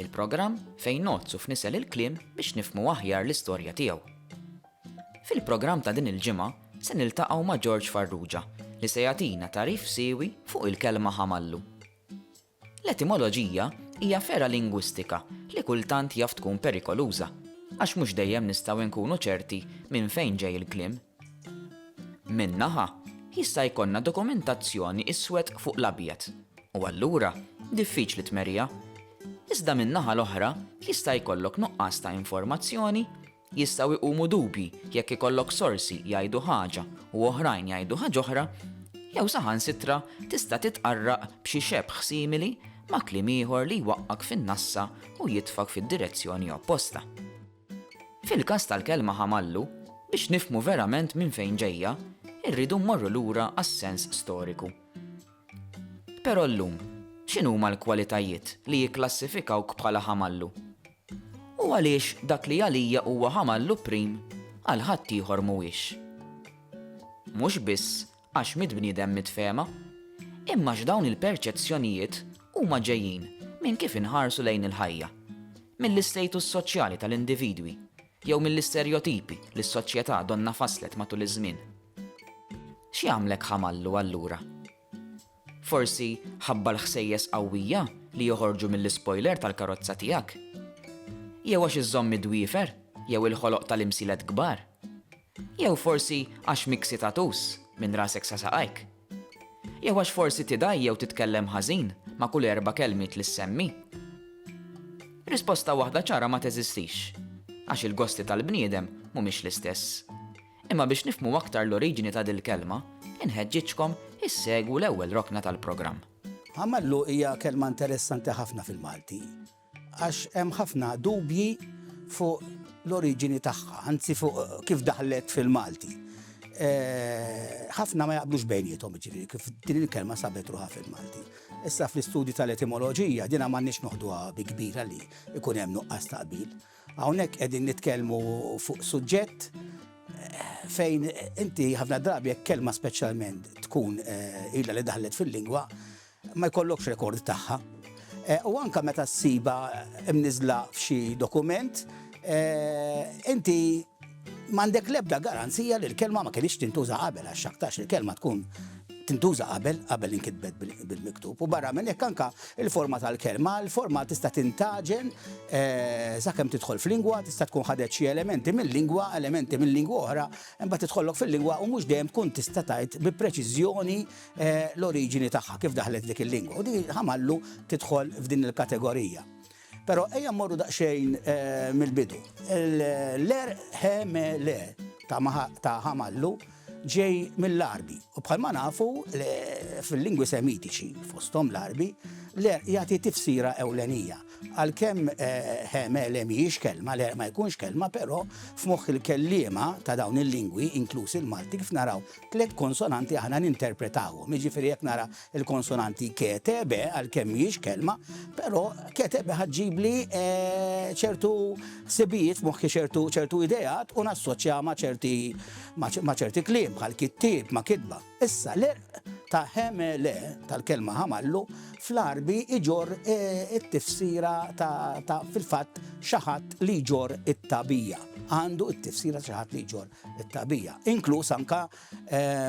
Il-programm fejn ngħoddsu f'nisel il-kliem biex nifhmu aħjar l-istorja tiegħu. Fil-programm ta' din il-ġimgħa se niltaqgħu ma' George Farrugia li se jagħtina tagħrif siewi fuq il-kelma ħamallu. L-etimoloġija hija fergħa lingwistika li kultant jaf tkun perikoluża għax mhux dejjem nistgħu nkunu ċerti minn fejn ġej il-kliem. Minn naħa, jista' jkollna dokumentazzjoni iswed fuq l-abjad, u allura diffiċli tmerrija. Iżda min-naħa l-oħra jista' jkollok nuqqas ta' informazzjoni, jistgħu jqumu dubji jekk ikollok sorsi jgħidu ħaġa u oħrajn jgħidu ħaġ'oħra, jew saħansitra tista' titqarraq b'xi xebħ simili ma' kliem ieħor li jwaqqgħek fin-nassa u jitfgħek fid-direzzjoni opposta. Fil-każ tal-kelma ħamallu, biex nifhmu verament minn fejn ġejja, irridu mmorru lura għas-sens storiku. Però llum, x'inhuma l-kwalitajiet li jikklassifikawk bħala ħamallu? U għaliex dak li għalija huwa ħamallu prim, għal ħaddieħor mhuwiex? Mhux biss Għax mill-bniedem mitfehma. Imma x'dawn il-perċezzjonijiet huma ġejjin minn kif inħarsu lejn il-ħajja. Mill-istatus soċjali tal-individwi jew mill-isterjotipi li s-soċjetà donnha fasslet matul iż-żmien. X'jagħmlek ħamallu allura? Forsi ħabba l-ħsejjes qawwija li joħorġu mill-ispoiler tal-karozza tiegħek? Jew għax iżżomm id-dwiefer jew il-ħoloq tal-imsilet kbar? Jew forsi għax mixi tattoos minn rasek sa saqajk? Jew għax forsi tidgħi jew titkellem ħażin ma' kull erba' kelmiet li ssemmi? Risposta waħda ċara ma teżistix, għax il-gosti tal-bniedem mhumiex l-istess. Imma biex nifhmu aktar l-oriġini ta' dil-kelma, inħeġġiġkom issegwu l-ewwel rokna tal-programm. Għamallu hija kelma interessanti ħafna fil-Malti għax hemm ħafna dubji fuq l-oriġini tagħha, anzi fuq kif daħlet fil-Malti. Ħafna ma jaqblux bejniethom jiġifieri kif din il-kelma sabet ruħha fil-Malti. Issa fl-istudju tal-etimoloġija dinha m'għandniex noħduha bi kbira li jkun hemm nuqqas ta' qbil. Hawnhekk qegħdin nitkellmu fuq suġġett fejn inti ħafna drabi jekk kelma speċjalment tkun eh, ilha li daħlet fil-lingwa ma jkollokx rekord tagħha. Eh, u anka meta ssiba mniżla f'xi dokument, eh, inti M'għandek l-ebda garanzija li l-kelma ma kienx tintuża qabel għax xaktax il-kelma tkun tintuża qabel qabel inkitbet bil-miktub u barra minn hekk anka il-forma tal-kelma, il-forma tista' tintaġen eh, sakemm tidħol f'lingwa, tista' tkun ħadet xi elementi mill-lingwa, elementi mill-lingwa oħra, imbagħad tidħollok fil-lingwa u mhux dejjem tkun tista' tgħid bi preċiżjoni eh, l-oriġini tagħha kif daħlet dik il-lingwa. U din ħamallu tidħol f'din il-kategorija. Però ejja mmorru daqsxejn mill-bidu. L-għerq he me le ta' Hamallu ġej mill-Għarbi u bħalma nafu fil-lingwi Semitiċi, fosthom l-Għarbi, l-għerq jagħti tifsira ewlenija. Għalkemm he me le mhijiex kelma, l-għerq ma jkunx kelma, però f'moħħ il-kelliema ta' dawn il-lingwi, inkluż il-Malti, kif naraw Tliet konsonanti aħna ninterpretawhom, jiġifieri jekk nara l-konsonanti ke, te, be, għalkemm mhijiex kelma, però ke, te, be ħa ġġibli ċertu ħsibijiet f'moħħi ċertu ideat u nassoċja ma' ċerti ma' ċerti kliem bħal kittieb ma' kitba. Issa l-erq ta' ħemele tal-kelma ħamallu fl-Għarbi iġorr it-tifsira ta' fil-fatt xi ħadd li jġorr it-tagħbija. Għandu t-tifsira ta' xi ħadd li jġorr it-tagħbija, inkluż anke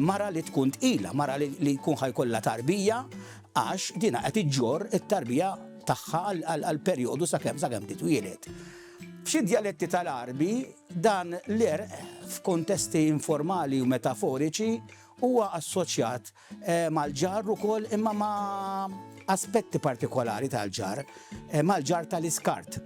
mara li tkun tqila, mara li jkun ħa jkollha tarbija għax dinha qed iġġorr it-tarbija tagħha għal perjodu sakemm sakemm titwieled. F'xi djaletti tal-Għarbi dan l-għerq f'kuntesti informali u metaforiċi huwa assoċjat mal-ġarr ukoll imma ma' aspetti partikolari tal-ġarr, mal-ġarr tal-iskart.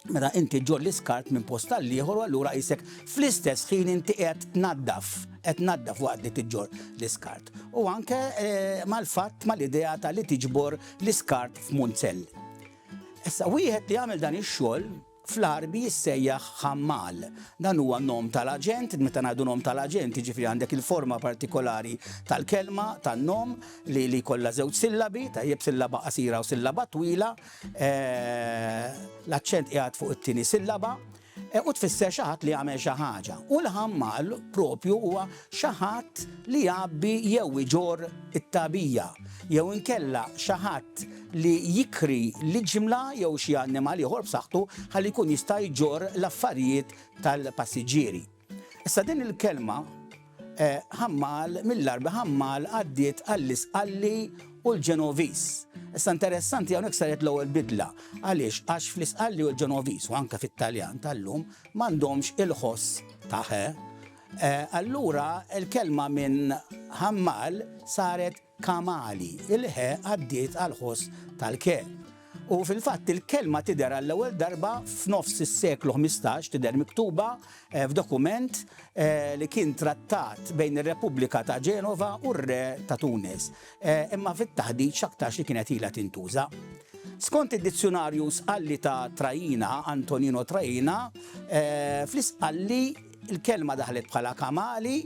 Meta inti ġġorr l-iskart minn post għall-ieħor allura qisek fl-istess ħin inti qed tnaddaf, qed tnaddaf waqt li tiġġorr l-iskart. U anke eh, mal-fatt mal-idea ta' li tiġbor l-iskart f'munzell. Issa wieħed li jagħmel dan ix-xogħol fl-arbi jissejjaħ ħammal. Dan huwa nom tal-aġent, meta ngħidu nom tal-aġent, jiġifieri għandek il-forma partikolari tal-kelma, tan-nom li li kollha żewġ sillabi, tajjeb sillaba qasira u sillaba twila, L-aċċent qiegħed fuq it-tieni sillaba u tfisser xi ħadd li jagħmel xi ħaġa. U l-ħammal propju huwa xi ħadd li jgħabbi jew iġorr it-tagħbija jew inkella xi ħadd li jikri l-iġmla jew xi annimal ieħor b'saħħtu ħalli jkun jista' jġorr l-affarijiet tal-passiġġieri. Issa din il-kelma ħammal, mill-Għarbi ħammal, għaddiet għall-Isqalli u l-Ġenoviż. Issa interessanti hawnhekk saret l-ewwel bidla. Għaliex? Għax fl-Isqalli u l-Ġenoviż u anke fit-Taljan tal-lum m'għandhomx il-ħoss ta' ħe. Allura l-kelma minn ħammal saret Kamali, il-ħe għaddiet għall-ħoss tal-ke. U fil-fatt il-kelma tidher għall-ewwel darba f'nofs is-seklu ħmistax, tidher miktuba f'dokument li kien trattat bejn ir-Repubblika ta' Genova u r-Re ta' Tunis, imma fit-taħdit x'aktarx li kienet ilha tintuża. Skont id-Dizzjunarju Sqalli ta' Traina, Antonino Traina, fl-Isqalli, Il-kelma daħlet bħala kamali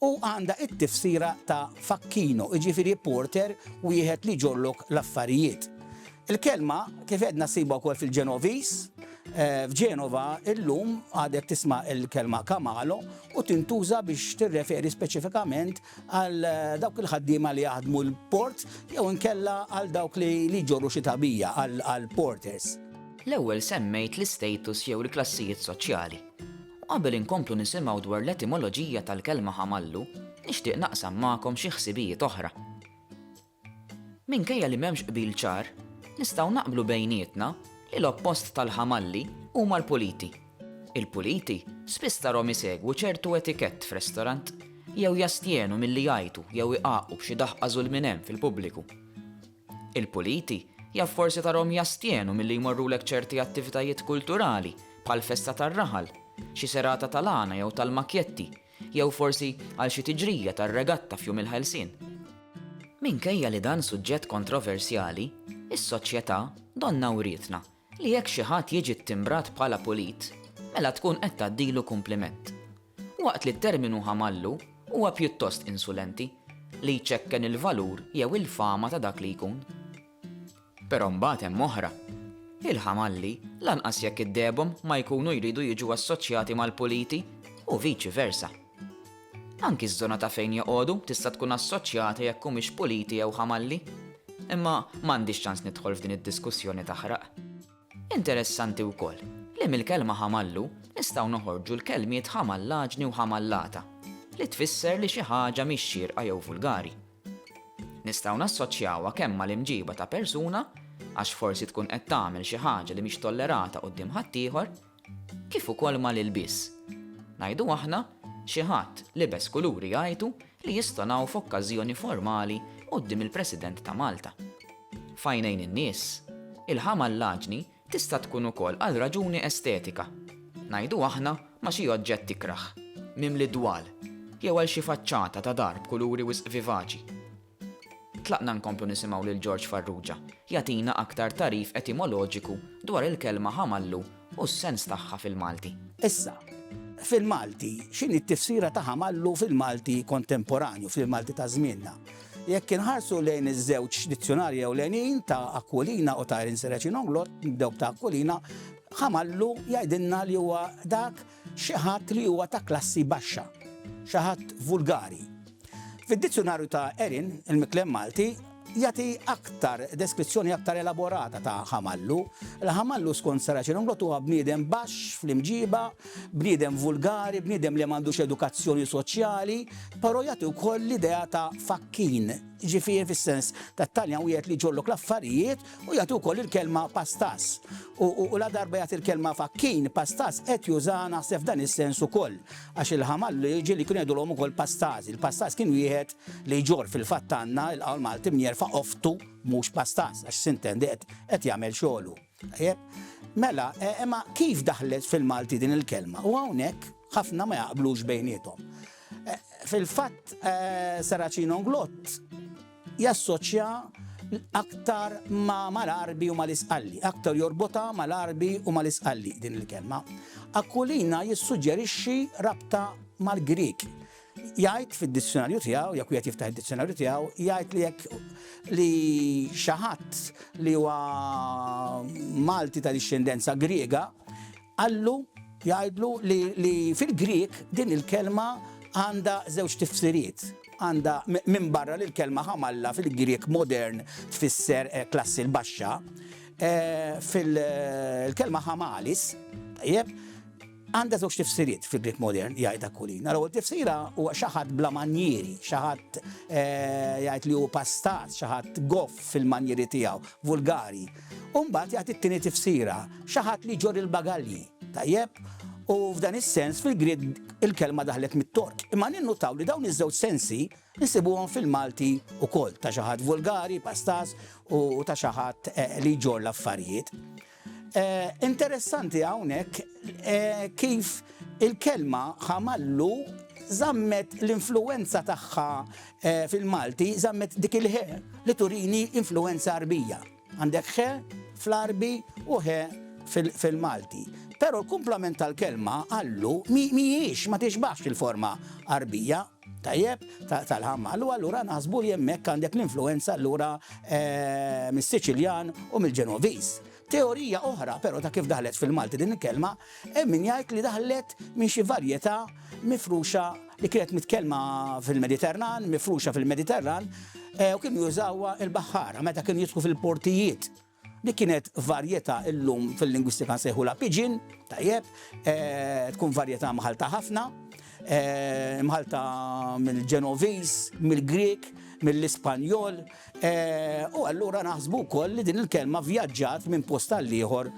u għandha t-tifsira ta' facchino, jiġifieri porter, wieħed li jġorrlok l-affarijiet. Il-kelma, kif għedna ssibha wkoll fil-Ġenoviż, f'Ġenova illum għadek tisma' l-kelma kamalo u tintuża biex tirreferi speċifikament għal dawk il-ħaddiema li jaħdmu l-port jew inkella għal dawk li jġorru xi tagħbija, għall-porters. L-ewwel semmejt l-istatus jew il-klassijiet soċjali. U qabel inkomplu nisimgħu dwar l-etimoloġija tal-kelma ħamallu, nixtieq naqsam magħkom xi ħsibijiet oħra. Minkejja li m'hemmx qbil ċar, nistgħu naqblu bejnietna li l-oppost tal-ħamalli huma l-puliti. Il-puliti spiss tarhom isegwu ċertu etikett f'restorant, jew jastjenu milli jgħajtu jew igħaqqu b'xi daħqa żulminem fil-pubbliku. Il-puliti jaf forsi tarahom jastjenu milli jmorrulek ċerti attivitajiet kulturali, bħal festa tar-raħal, xi serata tal-għana jew tal-makjetti, jew forsi għal xi tiġrija tar-regatta f'Jum il-Ħelsien. Minkejja li dan suġġett kontroversjali, is-soċjetà donnha wrietna li jekk xi ħadd jiġi ttimbrat bħala pulit, mela tkun qed tgħaddilu kumpliment. Waqt li t-terminu ħamallu huwa pjuttost insulenti, li jċekken il-valur jew il-fama ta' dak li jkun. Però mbagħad hemm oħra. Il-ħamalli, lanqas jekk iddehebhom, ma jkunu jridu jiġu assoċjati mal-puliti, u viċi versa. Anki ż-żona ta' fejn joqogħdu tista' tkun assoċjata jekk humiex puliti jew ħamalli. Imma m'għandix ċans nidħol f'din id-diskussjoni taħraq. Interessanti wkoll li mill-kelma ħamallu nistgħu noħorġu l-kelmiet ħamallaġni u ħamallata, li tfisser li xi ħaġa mhix xierqa jew vulgari. Nistgħu nassoċjawha kemm mal-imġiba ta' persuna, għax forsi tkun qed tagħmel xi ħaġa li mhix tollerata quddiem ħaddieħor, kif ukoll mal-ilbies. Ngħidu aħna, xi ħadd libes kuluri jgħajtu li jistonaw f'okkażjoni formali quddiem il-President ta' Malta. F'għajnejn in-nies, il-ħama l-għaġni tista' tkun ukoll għal raġuni estetika, ngħidu aħna ma' xi oġġett ikrah, mimli dwal, jew għal xi faċċata ta' dar b'kuluri wisq vivaċi. Tlaqna nkomplu nisimgħu lil George Farrugia jagħtina aktar tagħrif etimoloġiku dwar il-kelma ħamallu u s-sens tagħha fil-Malti. Issa, fil-Malti, x'inhi t-tifsira ta' ħamallu fil-Malti kontemporanju, fil-Malti ta' żmienna? Jekk inħarsu lejn iż-żewġ dizzjonarji ewlenin ta' Aquilina u ta' Irin Serraċin Ongloth, nibdew b'ta' Aquilina, ħamallu jgħidilna li huwa dak Xi ħadd li huwa ta' klassi baxxa. Xi ħadd vulgari. Fid-Dizzjunarju ta' Erin, il-Miklem Malti jagħti aktar deskrizzjoni aktar elaborata ta' ħamallu. Il-ħamallu skont Saraċin Unglot huwa bniedem baxx fl-imġiba, bniedem vulgari, bniedem li m'għandux edukazzjoni soċjali, però jagħti wkoll l-idea ta' fakkin, ġifieri fis-sens tat-Taljan wieħed li jġorrlok l-affarijiet Hu jagħti wkoll il-kelma pastas, u ladarba jagħti l-kelma fakkin, pastas qed jużaha naħseb f'dan is-sens ukoll, għax il-ħamal l-irġiel kienu jgħidulhom ukoll pastas. Il-pastas kien wieħed li jġorr fil-fatt għandna il-qawl Malti mjerfa qoftu mhux pastas, għax sintendi qed qed jagħmel xogħlu. Tajjeb? Mela, imma kif daħlet fil-Malti din il-kelma? U hawnhekk ħafna ma jaqblux bejniethom. Fil-fatt Saracino Nglott jassoċja aktar ma mal-Għarbi u mal-Isqalli, aktar jorbotha mal-Għarbi u mal-Isqalli din il-kelma. Aquilina jissuġġerixxi rabta mal-Grieg. Jgħid fid-dizzjonarju tiegħu, jekk wieħed jiftaħ id-dizzjonarju tiegħu, jgħid li jekk li xi ħadd li huwa Malti ta' dixxendenza Griega Qallu, jgħidlu, li li fil-Grieg din il-kelma għandha żewġ tifsiriet. Għandha, minbarra li l-kelma ħamalla fil-Grieg modern tfisser klassi l-baxxa, fil, l-kelma ħamalis, tajjeb, għandha żewġ tifsiriet fil-Grieg modern, jgħid Aquilina. L-ewwel tifsira huwa xi ħadd bla manjieri, xi ħadd, jgħid li hu pastat, xi ħadd goff fil-manjieri tiegħu, vulgari. U mbagħad jagħti t-tieni tifsira, xi ħadd li jġorr il-bagalji. Tajjeb? U f'dan is-sens fil-Grieg il-kelma daħlet mit-Tork. Imma ninnutaw li dawn iż-żewġ sensi nsibuhom fil-Malti wkoll, ta' xi ħadd vulgari, pastas, u ta' xi ħadd li jġorr l-affarijiet. Interessanti hawnhekk kif il-kelma ħamallu żammet l-influwenza tagħha fil-Malti żammet dik il-ħe li turini influwenza Għarbija. Għandek ħe fl-Għarbi u ħe fil-Malti. Però l-kumplament tal-kelma għallu mhijiex ma tixbaħx il-forma Għarbija, tajjeb, tal-ħammal, u allura naħsbu li hemmhekk għandek l-influwenza allura mis-Siċiljan u mill-Ġenoviż. Teorija oħra però ta' kif daħlet fil-Malti din il-kelma, hemm min jgħid li daħlet minn xi varjetà mifruxa li kienet mitkellma fil-Mediterran, mifruxa fil-Mediterran, u kienu jużawha l-baħħara meta kienu jidħlu fil-portijiet. Dik kienet varjetà illum fil-lingwistika nsejħulha pidgin, tajjeb, tkun varjetà mħallta ħafna, Imħallta mill-Ġenoviż, mill-Grieg, mill-Ispanjol, u allura naħsbu wkoll li din il-kelma vjaġġat minn post għal ieħor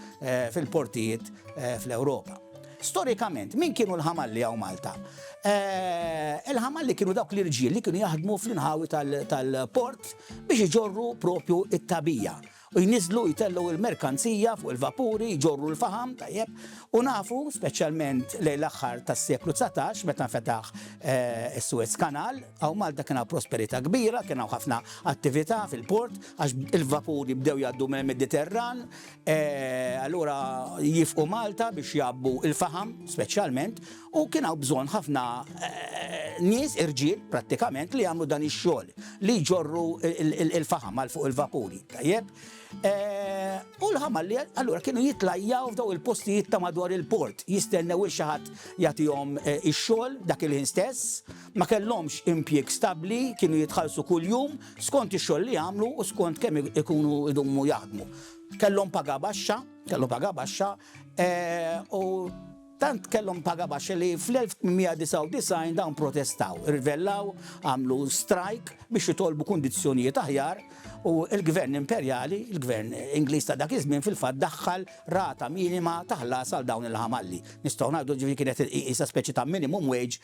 fil-portijiet fl-Ewropa. Storikament, min kienu l-ħamalli hawn Malta? Il-ħamalli kienu dawk l-irġiel li kienu jaħdmu fl-inħawi tal-port biex iġorru propju t-tagħbija. u jniżżlu jtellgħu il-merkanzija fuq il-vapuri, jġorru l-faħam, tajjeb, u nafu, speċjalment lejn l-aħħar tas-seklu dsatax meta nfetaħ is-Suez Canal, hawn Malta kien hawn prosperità kbira, kien hawn ħafna attività fil-port għax il-vapuri bdew jgħaddu mill-Mediterran, allura jifqu Malta biex jgħabbu l-faħam speċjalment, U kien hawn bżonn ħafna nies irġiel prattikament li jagħmlu dan ix-xogħol li jġorru l-faħam għal fuq il-vapuri, tajjeb? U l-ħamal li allura kienu jitlajjaw f'daw il-postijiet ta' madwar il-port, jistennew il xi ħadd jagħtihom ix-xogħol dak il-ħin stess, ma kellhomx impjieg stabbli, kienu jitħallsu kuljum skont ix-xogħol li jagħmlu u skont kemm ikunu jdumu jaħdmu. Kellhom paga baxxa, kellhom paga baxxa u. Tant kellhom paga baxxa li fl-1899 dawn protestaw, irrivellaw, għamlu strajk biex jitolbu kundizzjonijiet aħjar u l-Gvern Imperjali, il-Gvern Ingliż ta' dak iż-żmien fil-fatt daħħal rata minima ta' ħlas għal dawn il-ħamalli. Nistgħu ngħidu ġifieri kienet iqisha speċi ta' minimum wage